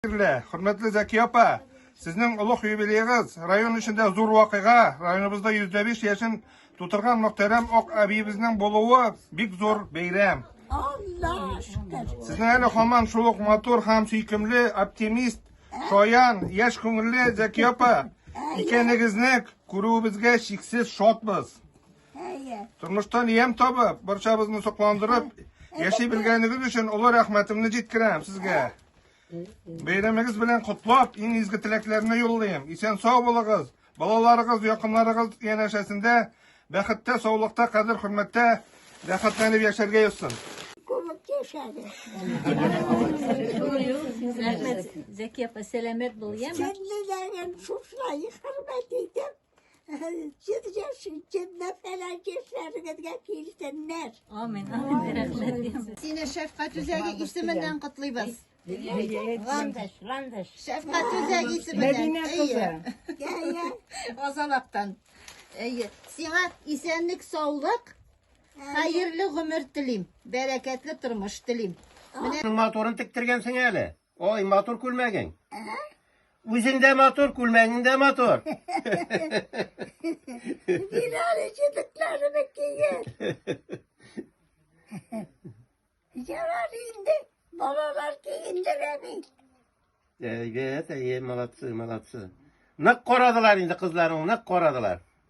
Кадерле, хөрмәтле Зәки апа, сезнең олуг юбилеегыз район эчендә зур вакыйга. Районыбызда 105 яшен тутырган мөхтәрәм Ак әбиебезнең булуы бик зур бәйрәм. Сезнең әле хаман шул ук матур һәм сөйкемле, оптимист, шаян, яшь күңелле Зәки апа икәнегезне күрүебезгә чиксез шатбыз. Әйе. Тормыштан ям табып, барчабызны сокландырып, яши белгәнегез өчен олы рәхмәтемне җиткерәм сезгә. Бәйрәмегез белән котлап, иң изге теләкләрне юллыйм. Исән сау булыгыз. Балаларыгыз, якыннарыгыз янәшәсендә бәхеттә, саулыкта, кадер хөрмәттә рәхәтләнеп яшәргә язсын. Күмеп яшәде. Рәхмәт, Зәки апа, сәламәт бул, яме? Сәлләләрен шушылай хөрмәт итеп, Җир яши, җирдә фәләкәтләрегезгә килсеннәр. Амин. Сине шәфкать үзәге исеменнән котлыйбыз. Ландыш, ландыш. Шәфкать үзәге исеменнән. Мәдинә кызы. Азалактан. Әйе. Сиңа исәнлек, саулык, хәерле гомер телим, бәрәкәтле тормыш телим. Менә матурын тектергәнсең әле. Ой, матур күлмәгең. Үзең дә матур, күлмәгең дә матур. Бирәр җитекләрне кигер. Ярар инде, балалар кигендерә бит. Әйбәт, әйе, молодцы, молодцы. Нык карадылар инде кызларың, нык карадылар.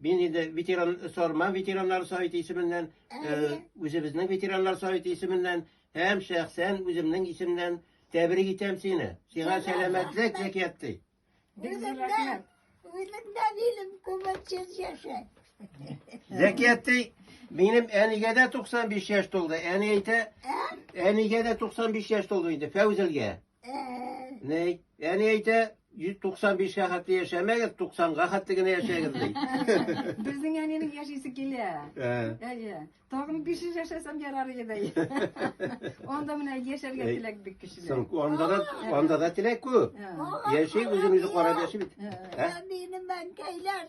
Мин инде ветеран Сарман ветераннар советы исеменнән, үзебезнең ветераннар советы исеменнән һәм шәхсән үземнең исемнән тәбрик итәм сине. Сиңа сәламәтлек әкияти. Үзлектән, үзлектән илем күмәчез яшә. Зәкияти, минем әнигә дә 95 яшь тулды. Әни әйтә, әнигә дә 95 яшь тулды инде, Фәүзелгә. Ни? Әни әйтә, 195 га хәтле яшәмәгез, 90 га хәтле генә яшәгез ди. Безнең әнинең яшисе килә. Ә. Әйе. Тагын 500 яшәсәм ярар иде. Анда менә яшәргә Әй, теләк бик көчле. Соң анда да анда да теләк күп. Ә. Яши, үзен үзе карап яши бит. Ә? Ә минем әнкәйләр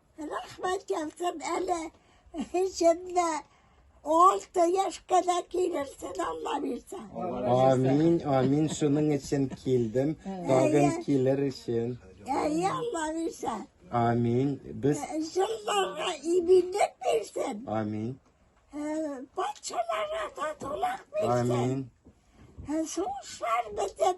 Рәхмәт язсын әле җеннә алты яшькә дә килерсен алла бирсә Амин, амин, шуның өчен килдем, тагын килер өчен. әй алла бирсә Амин, без, җырларга иминлек бирсен амин, Ә, патшаларга татулык бирсен амин, Ә, сугышлар бетеп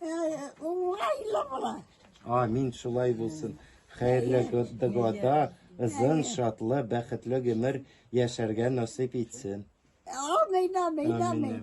Уңайлы була. Амин, шулай булсын. Хәерле года, озын, шатлы, бәхетле гомер яшәргә насыйп итсен. Амин, амин, амин.